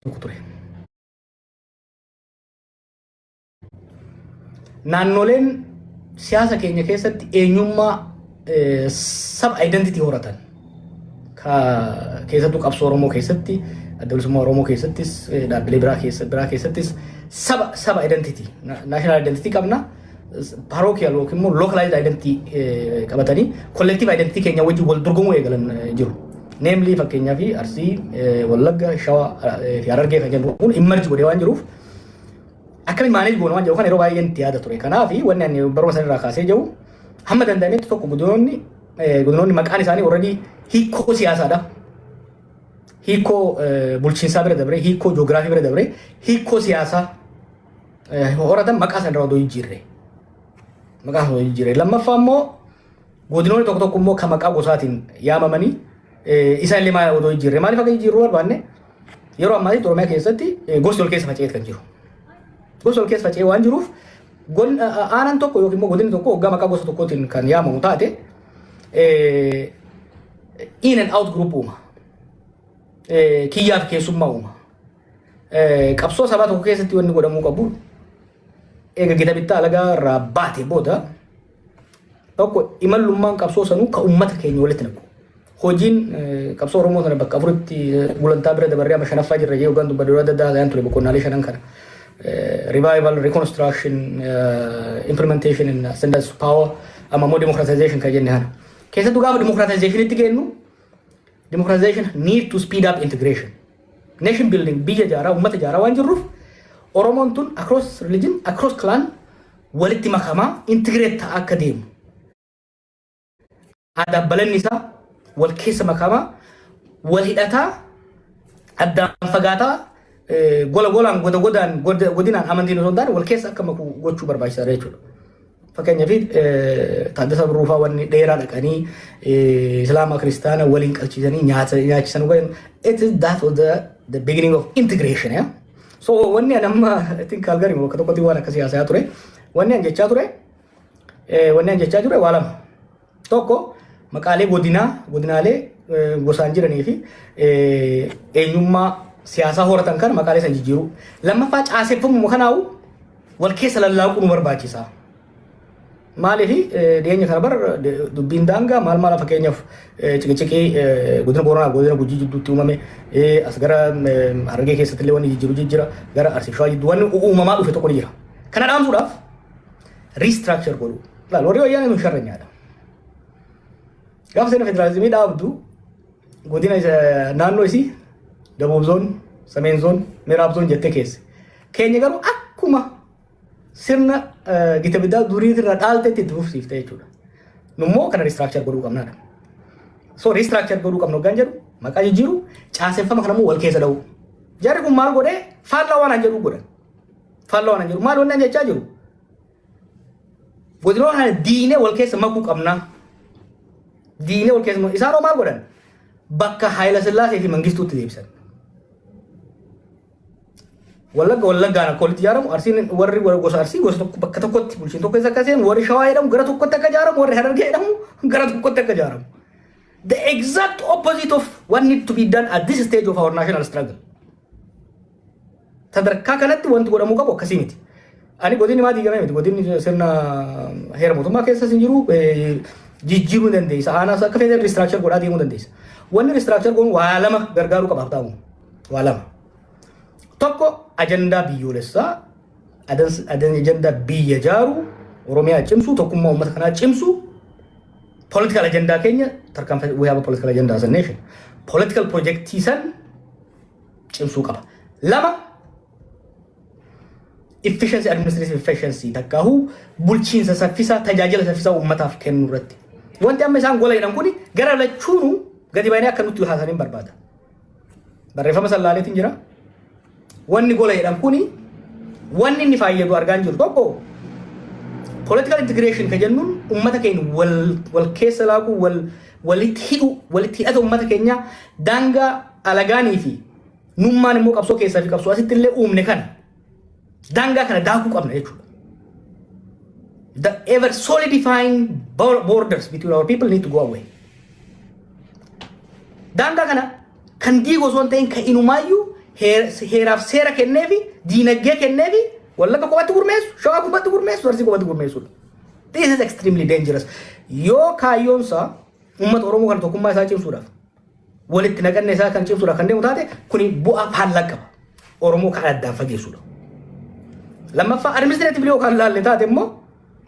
tokko ture. Naannoleen siyaasa keenya keessatti eenyummaa sab identity horatan keessattuu qabsoo Oromoo keessatti adda bilisummaa Oromoo keessattis dhaabbilee biraa keessattis saba saba identity national identity qabna. parochial yookiin immoo localized identity eh, qabatanii collective identity keenya wajjin wal dorgomuu eegalan eh, jiru. Namely fakkeenyaaf Arsii, eh, Wallagga, Shawaa eh, fi Harargee kan jennu kun immerge godhee waan jiruuf akkamiin maaneej goona waan jedhu kan yeroo baay'ee itti yaada ture. Kanaaf wanni ani baruma sana irraa kaasee jiru hamma danda'ametti tokko godinoonni eh, godinoonni maqaan isaanii already hiikoo siyaasaadha. Hiikoo eh, bulchiinsaa bira dabree, hiikoo joogiraafii bira dabree, hiikoo siyaasaa horatan maqaa sana odoo hin jirre. Maqaa sana odoo hin jirre. Lammaffaa immoo godinoonni tokko tokko immoo kan maqaa gosaatiin yaamamanii isaan illee maal odoo hin jirre. Maaliif akka jijjiirruu barbaanne yeroo ammaa Oromiyaa keessatti gosti ol keessa faca'ee kan jiru. Gosti ol keessa faca'ee waan jiruuf aanaan tokko yookiin immoo godinni tokko hoggaa maqaa gosa tokkootiin kan yaamamu taate in and out group uuma. Kiyyaaf keessummaa uuma. Qabsoo sabaa tokko keessatti wanni godhamuu qabu eega gita bittaa alagaa irraa baate booda tokko imallummaan qabsoo sanuu ka uummata keenya walitti naqu. Hojiin qabsoo Oromoo sana bakka afuritti gulantaa bira dabarree amma shanaffaa jirra jee hoggaan dubbadhu adda addaa ta'an ture boqonnaalee shanan kana. Revival, reconstruction, implementation and ascendance of power amma immoo democratization kan jenne kana. Keessattuu gaafa democratizationitti geennu democratization need to speed up integration. Nation building, biyya ijaaraa, uummata ijaaraa waan jirruuf Oromoon tun across religion, across clan walitti makamaa integrate ta'aa akka deemu. Aadaaf balanni isaa wal keessa makamaa, wal hidhataa, addaan fagaataa, eh, gola golaan, goda godaan, goda- godinaan amantiin osoo hin taane wal keessa akka maku gochuu barbaachisaadha jechuudha. Fakkeenyaaf Taaddasaa Birruu fa'aa wanni dheeraa dhaqanii Islaama Kiristaana waliin qalchiisanii nyaata nyaachisan waliin it is that was the, the beginning of integration yeah? so wanni an amma I think Calgary bakka tokkotti waan akkasii haasa'aa ture wanni an jechaa ture eh, wanni an jechaa ture waa lama Tokko maqaalee godinaa, godinaalee eh, gosaan jiranii fi eh, eenyummaa siyaasaa horatan kana maqaalee san jijjiiruu. Lammaffaa caaseffamuma kanaa'u wal keessa lallaaquu nu barbaachisa. Maaliif eh, dhiyeenya kana bara de- dubbiin daangaa maal maala fakkeenyaaf eh, ciqiciqii eh, godina Booranaa godina Gujii jidduutti uumame eh, as gara eh, Harargee keessatti illee wanni jijjiiru jijjiira gara Arsii Shawaa jidduu wanni uumamaa dhufe tokko ni jira. Kana dhaamsuudhaaf Restructure godhuu. Laal warri wayyaanee nu sharranyaadha. Gaafa sirna federaalizimii dhaabdu godina isa- naannoo isii Dabuub zoon, Sameen zoon, Miraab zoon jettee keesse. Keenya garuu akkuma sirna eh, gita biddaa duriitti irraa dhaaltetti itti fufsiifte jechuudha. Nummoo kana restructure godhuu qabnaadha. So restructure godhuu qabna hoggaan jedhu maqaa jijjiiru caaseffama kanammoo wal keessa dha'u. Jarri kun maal godhee faallaa waan an jedhu godhan. Falloo ana jiru. Maal wanni ani jechaa jiru? Godinoo kana diinee wal keessa makuu qabnaa. Diinee wal keessa makuu. Isaanoo maal godhan? Bakka Haayila Sillaasee fi Mangistuutti deebisan. Wallagga wallaggaan akka walitti ijaaramu arsiin warri warra gosa arsii gosa tokko bakka tokkotti bulchiin tokko keessa akka seenu warri shawaa jedhamu gara tokkotti akka ijaaramu warri harargee jedhamu gara tokkotti akka ijaaramu. The exact opposite of what need to be done at this stage of our national struggle. Sadarkaa kanatti wanti godhamuu qabu akkasii miti. Ani godinni maa diigamee miti. Godinni sirna heera mootummaa keessas hin jiru jijjiiruu dandeessa. Aanaas akka feeteen riistiraakchar godhaa deemuu dandeessa. Wanni riistiraakchar goonu waa lama gargaaruu qaba haftaamu. Waa lama. Tokko ajandaa biyyoolessaa ajandaa biyya jaaruu Oromiyaa cimsuu tokkummaa uummata kanaa cimsuu political ajandaa keenya tarkaanfii we have a political agenda as a nation political projectii san cimsuu qaba. Lama efficiency administrative efficiency takkaahu bulchiinsa saffisaa tajaajila saffisaa uummataaf kennu irratti. Wanti amma isaan gola jedhan kuni gara lachuunuu gadi baay'inee akka nutti haasanii hin barbaada. Barreeffama san laaleetiin jira. Wanni gola jedhan kuni wanni inni fayyadu argaa hin jiru tokko political integration kan jennuun uummata keenya wal wal keessa laaquu wal walitti hidhuu walitti hidhata uummata keenyaa daangaa alagaanii fi nummaan immoo qabsoo keessaa fi qabsoo asitti illee uumne kana daangaa kana daakuu qabna jechuudha. The ever solidifying bor- borders between our people need to go away. Daangaa kana kan diigu osoo hin ta'in kan inumaayyuu heer- heeraaf seera kennee fi diinagdee kennee fi wallagga qofatti gurmeessu, shawaa qofatti gurmeessu, arsii qofatti gurmeessudha. This is extremely dangerous. Yoo kaayyoon isaa uummata Oromoo kana tokkummaa isaa cimsuudhaaf walitti naqanne isaa kan cimsudha kan deemu taate kuni bu'aa faallaa qaba. Oromoo kan addaan fageessudha. Lammaffaa administreetivli yoo kan laalle taate immoo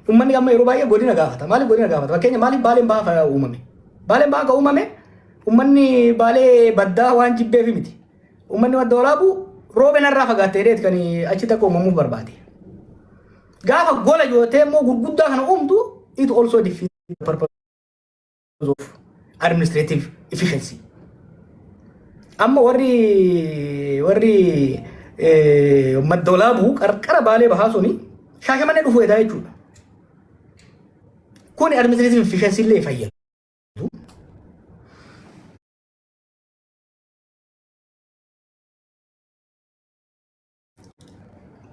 uummanni amma yeroo baay'ee godina gaafata. Maaliif godina gaafata? Fakkeenya maaliif baaleen bahaa uumame? Baaleen bahaa kan uumame uummanni baalee baddaa waan jibbeef miti. Uummanni madda walaabuu roobeen irraa fagaattee dheet kan achi takka uumamuuf barbaade. Gaafa gola yoo ta'e immoo gurguddaa kana uumtu it also defeat the purpose. of administrative efficiency. Amma warri warri maddoolaa bu'u qarqara baalee bahaa suni shaashamannee dhufuu edaa jechuudha. Kuni administrative efficiency illee fayyadu.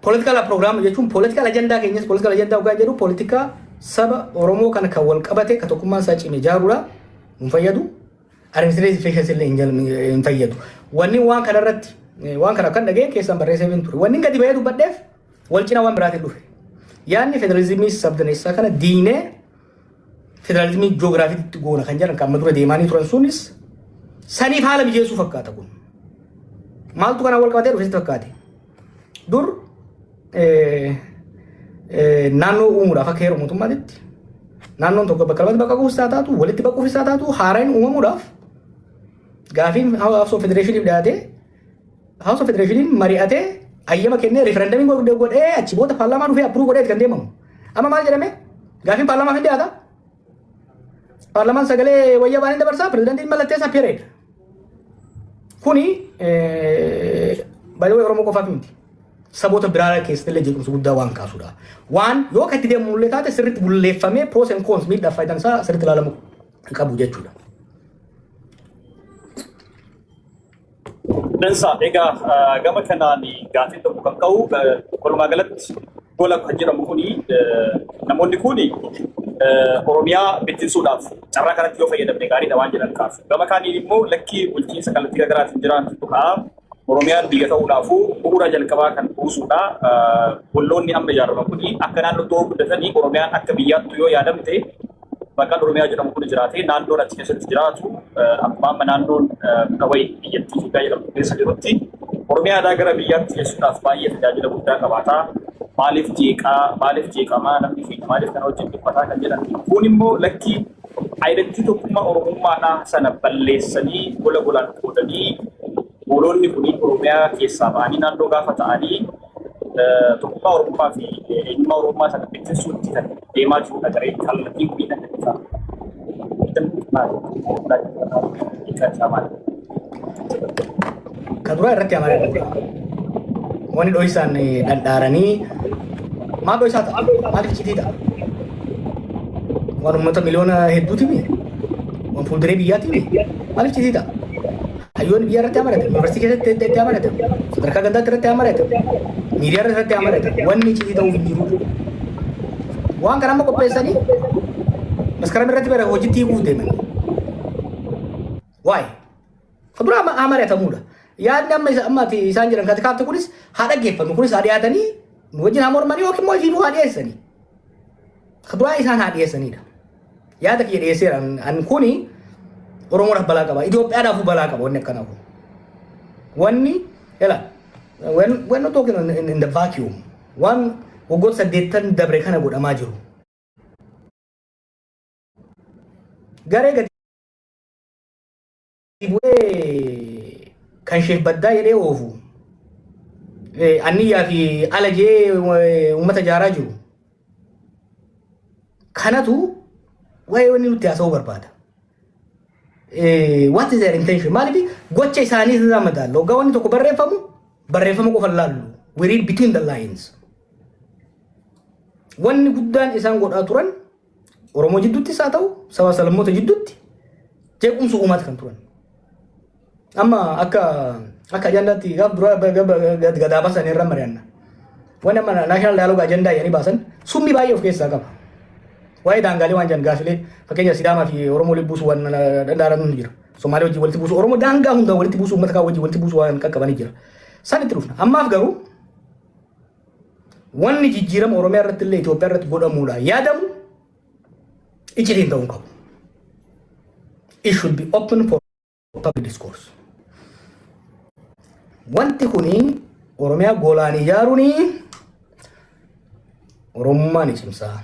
Poolitikaala piroogiraama jechuun poolitikaala ajandaa keenyas poolitikaala ajandaa dhugaa jedhu poolitikaa saba Oromoo kana kan wal qabate kan tokkummaan isaa cime ijaarudha. Hin fayyadu. Administreetii feeshinsi illee hin jal- hin fayyadu. Wanni waan kana irratti waan kana kan dhaga'e keessaan barreessee hin ture. Wanni gadi bahee dubbadheef wal cina waan biraatiin dhufe. Yaadni federalizimii sabdaneessaa kana diinee federaalizimii joogiraafiitti goona kan jedhan kan amma dura deemaanii turan sunis saniif haala mijeessuu fakkaata kun. Maaltu kanaan wal qabatee dhufeetti fakkaate? Dur naannoo uumuudhaaf akka heeru mootummaatitti naannoon tokko bakka lamatti bakka kuusaa taatu walitti bakka kuusaa taatu haaraan uumamuudhaaf gaafiin hawaasoo federeeshiniif dhiyaatee House of Federationiin mari'atee hayyama kennee referendamiin godhe- godhee achi booda paarlaamaa dhufee approved godhee itti kan deemamu. Amma maal jedhame? Gaafiin paarlaamaaf hin dhiyaata. Paarlaamaan sagalee wayyaa baanii dabarsaa pirezidantiin mallatteessaa period. Kuni baay'ee Oromoo qofaaf miti. Saboota biraa keessatti illee jeequmsa guddaa waan kaasudha. Waan yoo akka itti deemu illee taate sirriitti bulleeffamee pros and cons miidhaaf faayidaan isaa sirriitti ilaalamu qabu jechuudha. Dansa egaa gama kanaan gaaffiin tokko kan ka'u walumaa galatti gola kan jedhamu kuni namoonni kuni Oromiyaa bittinsuudhaaf carraa kanatti yoo fayyadamne gaariidha waan jedhan kaasu. Gama kaaniin immoo lakkii bulchiinsa kallattii garaagaraatiin jiraantu tuqaa Oromiyaan biyya ta'uudhaafuu bu'uura jalqabaa kan buusuudha. Golloonni amma ijaaraman kuni akka naannootti yoo guddatanii Oromiyaan akka biyyaattu yoo yaadamte maqaan Oromiyaa jedhamu kun jiraatee naannoon achi keessatti jiraatu akkuma amma naannoon muka wayii biyyattii Itoophiyaa jedhamtu keessa jirutti Oromiyaa aadaa gara biyyaatti geessuudhaaf baay'ee tajaajila guddaa qabaata. Maaliif jeeqaa, maaliif jeeqamaa, namni keenya maaliif kana wajjin dhiphataa kan jedhan. Kun immoo lakkii ayidattii tokkummaa Oromummaadhaa sana balleessanii gola golaan qoodanii gooloonni kun Oromiyaa keessaa ba'anii naannoo gaafa ta'anii tokkummaa Oromoo fi eenyummaa Oromoo sana bittinsuutti kan deemaa jirudha garee kallattiin kun kan ibsaa. Ka duraa irratti amanaa dha. Wani dhoysaan dhadhaaranii maal dhoysaa ta'a? Maaliif citii ta'a? Waan uummata miliyoona hedduuti mi? Waan fuulduree biyyaati mi? Maaliif citii ta'a? Hayyoonni biyyaa irratti haa maratan, yuunivarsiitii keessatti adda addaa maratan, sadarkaa gandaatti irratti haa maratan, miidiyaa irratti irratti haa maratan. Wanni iccitii ta'uu hin jiru. Waan kana amma qopheessanii maskaram irratti bara hojiitti hiikuuf deeman. Waa'ee. Kan biraa amma haa maratamuudha. Yaadni amma isa amma ati isaan jedhan kati kaafte kunis haa dhaggeeffannu kunis haa dhiyaatanii nu wajjin haa mormanii yookiin immoo ifiinuu haa dhiyeessanii. Du'aa isaan haa dhiyeessanidha. Yaada kiyya dhiyeesseera. An- An kuni Oromoodhaaf balaa qaba. Itoophiyaadhaaf balaa qaba wanni akkanaa kun. Wanni ela when when not talking in, in, in the vacuum waan waggoota saddeettan dabre kana godhamaa jiru. Garee gadi bu'ee kan isheef baddaa jedhee oofu anniyyaa fi ala jee uummata jaaraa jiru. Kanatu waa'ee wanni nutti haasa'uu barbaada. What is their intention? Maaliif gocha isaanii irraa madaalla. Waggaa wanni tokko barreeffamu barreeffama qofa laallu. We read between the lines. Wanni guddaan isaan godhaa turan Oromoo jidduuttis haa ta'u sabaa salammoota jidduutti jeequmsa uumaati kan turan. Amma akka akka ajandaatti gaaf duraa ba- ga- ba- ga- gadaa baasan irra mari'anna. Wanni amma naashinaal daayilooga ajandaa jedhanii baasan summii baay'ee of keessaa qaba. Waa'ee daangaalee waan jiran gaafilee fakkeenya Sidaamaa fi Oromoo walitti buusu waan danda'aran ni jira. Somaalee wajjin walitti buusu Oromoo daangaa hundaa walitti buusu uummata kaan wajjin walitti buusu waan qaqqabanii jira. San itti dhufna. Ammaaf garuu Wanni jijjiirama Oromiyaa irratti illee Itoophiyaa irratti godhamuudhaan yaadamu icitiin ta'uu hin qabu. It should be open for public discourse. Wanti kuni Oromiyaa goolaan ijaaruun Oromummaa ni cimsaa.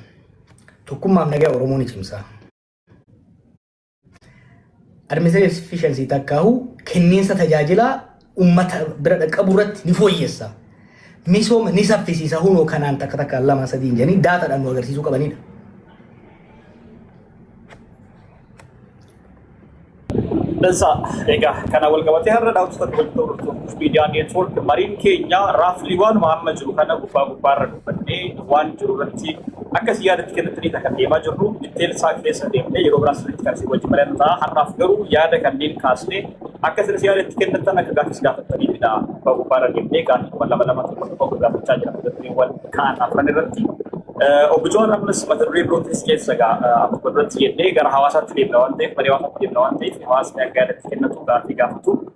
Tokkummaaf nagaa Oromoo ni cimsaa. Administrative efficiency takkaahu kenniinsa tajaajilaa uummata bira dhaqqabu irratti ni fooyyessa. Misooma ni saffisiisa hunoo kanaan takka takkaan lama sadii hin jedhanii daataadhaan nu agarsiisuu qabanidha. Dansa egaa kana wal qabatee har'a dhaamsa tokko walitti hordoftuuf miidiyaa neetwoork mariin keenya raaflii waanuma amma jiru kana gubbaa gubbaarra nu Badhee waan jiru irratti akka isin yaada itti kennittaniidha kan deemaa jirru. Detail isaa keessa deemnee yeroo biraa sirriitti kan isin wajjin mari'annu ta'a. Har'aaf garuu yaada kanneen kaasnee akka isinis yaada itti kennittan akka gaaffiis gaafattaniidha. Abbaa Gubbaarra deemnee gaaffiiwwan lama lama tokko tokko akka gaafachaa jira mata dureewwan ka'an afran irratti. Eh, Obbo Jawaar ammas mata duree birootinis keessa egaa eh, akkuma duratti jennee gara hawaasaatti deemna waan ta'eef marii hawaasaatti deemna waan ta'eef hawaasni akka yaada itti kennatu gaaffii gaafatu.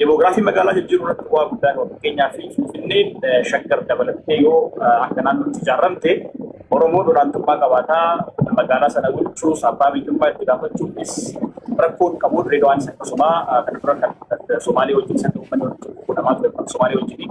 Demoogiraafii magaalaa jijjiiruu irratti bu'aa guddaa qaba. Fakkeenyaaf Finfinneen Shaggar dabalattee yoo akka naannootti ijaaramte Oromoon olaantummaa qabaataa magaalaa sana bulchuus abbaa biyyummaa itti gaafachuufis rakkoon qabu Dirreedawaanis akkasuma kana dura kan Somaalee wajjin sirna uummanni walitti bu'u namaa ture kan Somaalee wajjin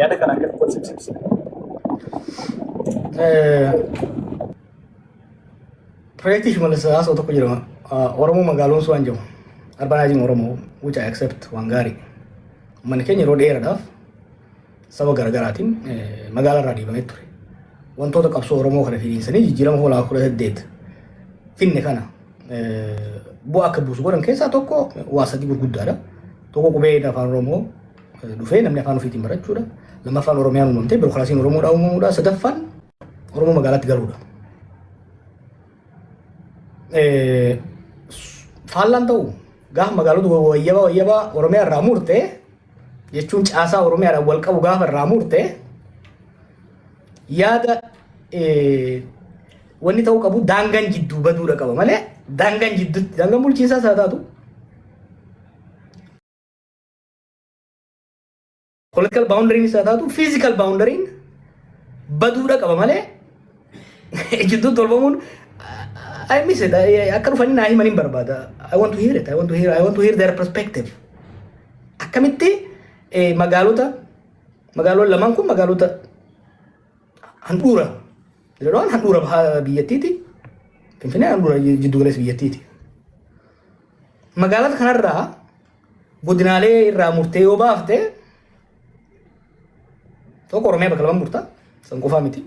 Yaada kana akkatti wal simsiisina. Piroojeektii Shimallis Haasoo tokko jedhama. Oromoo magaaloon waan jedhamu. Arbanaajiin Oromoo which I accept waan gaarii. Manni keenya yeroo dheeraadhaaf saba garaagaraatiin magaalaa irraa deebamee ture. Wantoota qabsoo Oromoo kana finiinsanii jijjiirama hoolaa kudha saddeet finne kana bu'aa akka buusu godhan keessaa tokko waa sadii gurguddaadha. Tokko qubee afaan Oromoo dhufee namni afaan ofiitiin barachuudha. Lammaffaan Oromiyaan uumamtee birookiraasiin Oromoodhaa uumamuudha. Sadaffaan Oromoo magaalaatti galuudha. Faallaan ta'u gaafa magaalota wayyabaa wayyabaa Oromiyaa irraa murte jechuun caasaa Oromiyaadhaan wal qabu gaafa irraa murte yaada wanni ta'uu qabu daangaan jidduu baduudha qaba malee daangaan jidduutti daangaan bulchiinsaas haa taatu Political boundary isaa taatu physical boundary baduudha qaba malee ejjittuun tolfamuun I miss it. I- Akka dhufanii naa himan hin barbaada. I want to hear it. I want to hear, I want to hear their perspective. Akkamitti eh, magaalota magaaloon lamaan kun magaalota handhuura jedhaman handhuura bahaa biyyattiiti. Finfinnee handhuura jiddu galeessa biyyattiiti. Magaalota kanarraa Godinaalee irraa murtee yoo baafte tokko Oromiyaa bakka lamaan murtaa san qofaa miti.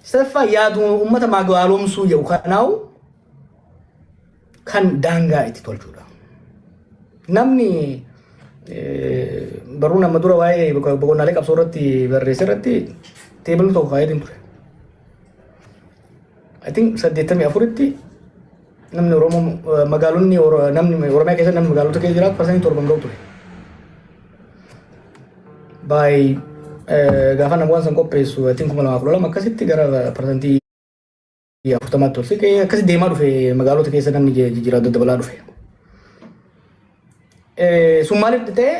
Sadaffaa yaaduma uummata magaalomsuu jedhu kanaa'u kan daangaa itti tolchuudha. Namni barruu nama dura waa'ee boqonnaalee qabsoo irratti barreesse irratti teebilli tokko kaa'eetiin ture. I think saddeettamii afuritti namni Oromoo eh, magaalonni Oro- namni Oromiyaa keessa namni magaalota keessa jiraatu parsantii torban ga'u ture. By eh, gaafa nama waan san qopheessu I think kuma lamaa kudha lama akkasitti gara parsantii afurtamaatti ol siqee akkasi deemaa dhufe magaalota keessa namni je- jijjiiraa daddabalaa dhufe. Eh, Sun maaliif ta'e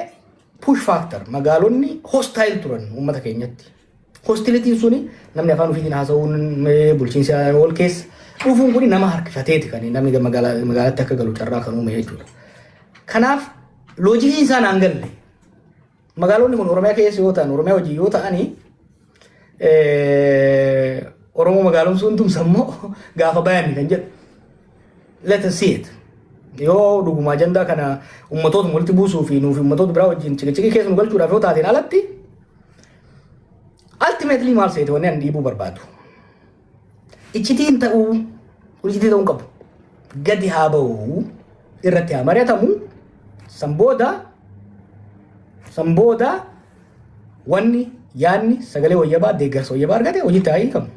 push factor magaalonni hostile turan uummata keenyatti. Hostilitiin suni namni afaan ofiitiin haasa'uun bulchiinsi ol keessa dhufuun kun nama harkifateeti kan namni magaalatti akka galu carraa kan uume jechuudha. Kanaaf loojikiin isaa naan galle. Magaalonni kun Oromiyaa keessa yoo ta'an Oromiyaa wajjin yoo ta'anii Oromoo magaalomsuun tumsa immoo gaafa bayan kan jedhu. Let us see it. Yoo dhuguma ajandaa kana ummatoota walitti buusuu fi nuuf ummatoota biraa wajjin cikichikii keessa nu galchuudhaaf yoo taateen alatti Ultimately maal seete wanni ani dhiibuu barbaadu. Iccitiin ta'uu kun iccitii ta'uu hin qabu. Gadi haa ba'u irratti haa mari'atamu san booda san booda wanni yaadni sagalee wayyabaa deeggarsa wayyabaa argate hojiitti haa hiikamu.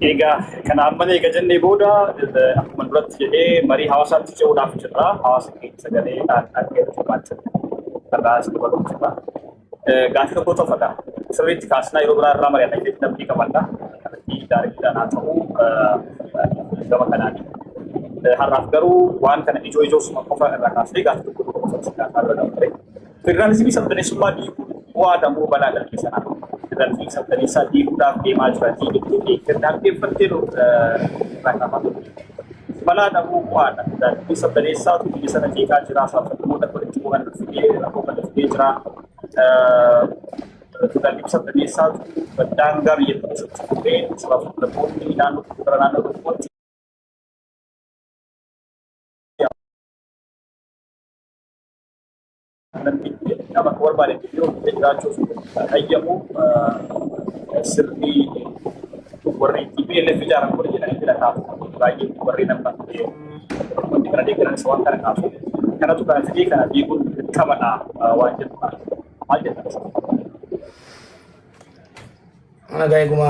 Egaa kana amma eega jennee booda eh, akkuma duratti jedhee marii hawaasaatti ce'uudhaaf jirra. Hawaasa keenya sagalee dhaan dhaggeeffatu baachaa irraa isin dabaluu jirra. Eh, Gaaffii tokko tofadha. Sirriitti kaasnaa yeroo biraa irraa mari'anna jechuun namni qabadha. Kallattii daariidhaan haa ta'u eh, gama kanaan. Eh, Har'aaf garuu waan kana ijoo ijoo suma qofa irraa kaasnee gaaffii tokko tokko qofa isin gaafataa irra dabarre. Federaalizimii sabdaneessummaa diiguun bu'aadha moo balaa dhalli sanaa? Federaalizimii sabdaneessaa diiguudhaaf deemaa jiratii jettee deeggartee dhaggeeffattee irraa qaba. Balaadha moo bu'aadha? Federaalizimii sabdaneessaatu biyya sana jeeqaa jira, saabsaboota walitti bu'an fidee rakkoo kana fidee jira. Federaalizimii sabdaneessaatu daangaa biyya keessatti kufee sabaa fi sablammoonni naannoo tokko gara naannoo tokkootti Namni nama akka barbaade itti yoo dhufee jiraachuuf hayyamu sirni warri TPLF ijaaran kun jedhanii filataaf baay'ee warri nama hundi kana deeggaran isa waan kana kaasu kanatu kana fidee kana diiguun dirqamadha waan jedhu kana maal jedhama? Mana gaa'eeguma